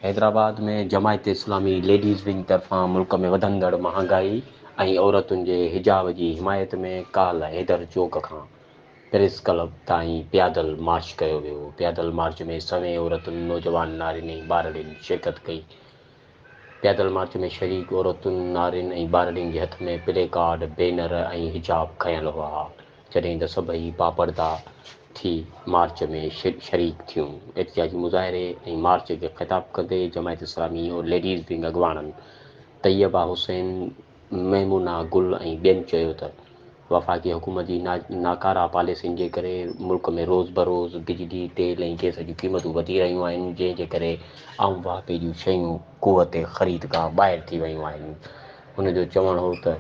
Hyderabad ۾ Jamaat Islami ladies wing طرفان ملڪ ۾ وڌندڙ مهانگائي ۽ عورتن جي حجاب جي حمايت ۾ ڪالهه حيدر چوڪ کان پريس ڪلب تائين پيادل مارچ ڪيو ويو، پيادل مارچ ۾ سوين عورتن، نوجوان نارين ۽ ٻارڙين شرڪت ڪئي، پيادل مارچ ۾ شريڪ عورتن، نارين ۽ ٻارڙين جي هٿ ۾ پلي ڪارڊ، بينر ۽ حجاب کنيل هئا، جڏهن ته سڀئي باپرده ٿي مارچ ۾ شريڪ ٿيون. احتجاجي مظاهري ۽ مارچ کي خطاب ڪندي جماعت اسلامي ليڊيز ونگ اڳواڻن طيبه حسين، ميمونه گل ۽ ٻين چيو ته وفاقي حڪومت جي ناڪاره پاليسين جي ڪري ملڪ ۾ روز بروز بجلي، تيل ۽ گئس جون قيمتون وڌي رهيون آهن جنهن جي ڪري عام واهپي جون شيون قوت خريد کان ٻاهر ٿي ويون آهن. هن جو چوڻ هو ته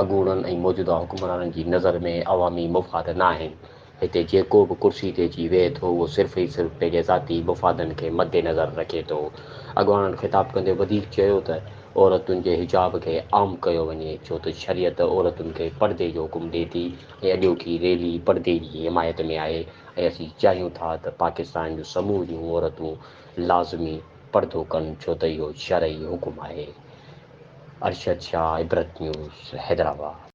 اڳوڻن ۽ موجوده حڪمرانن جي نظر ۾ عوامي مفاد ناهن، هتي جيڪو به ڪرسي تي اچي ويهي ٿو اهو صرف ئي صرف پنهنجي ذاتي مفادن کي مدنظر رکي ٿو. اڳواڻن خطاب ڪندي وڌيڪ چيو ته عورتن جي حجاب کي عام ڪيو وڃي ڇو ته شريعت عورتن کي پردي جو حڪم ڏئي ٿي ۽ اڄوڪي ريلي پردي جي حمايت ۾ آهي ۽ اسين چاهيون ٿا ته پاڪستان جون سموريون عورتون لازمي پردو ڪن ڇو ته اهو شرعي حڪم آهي. ارشد شاهه عبرت نيوز حيدرآباد.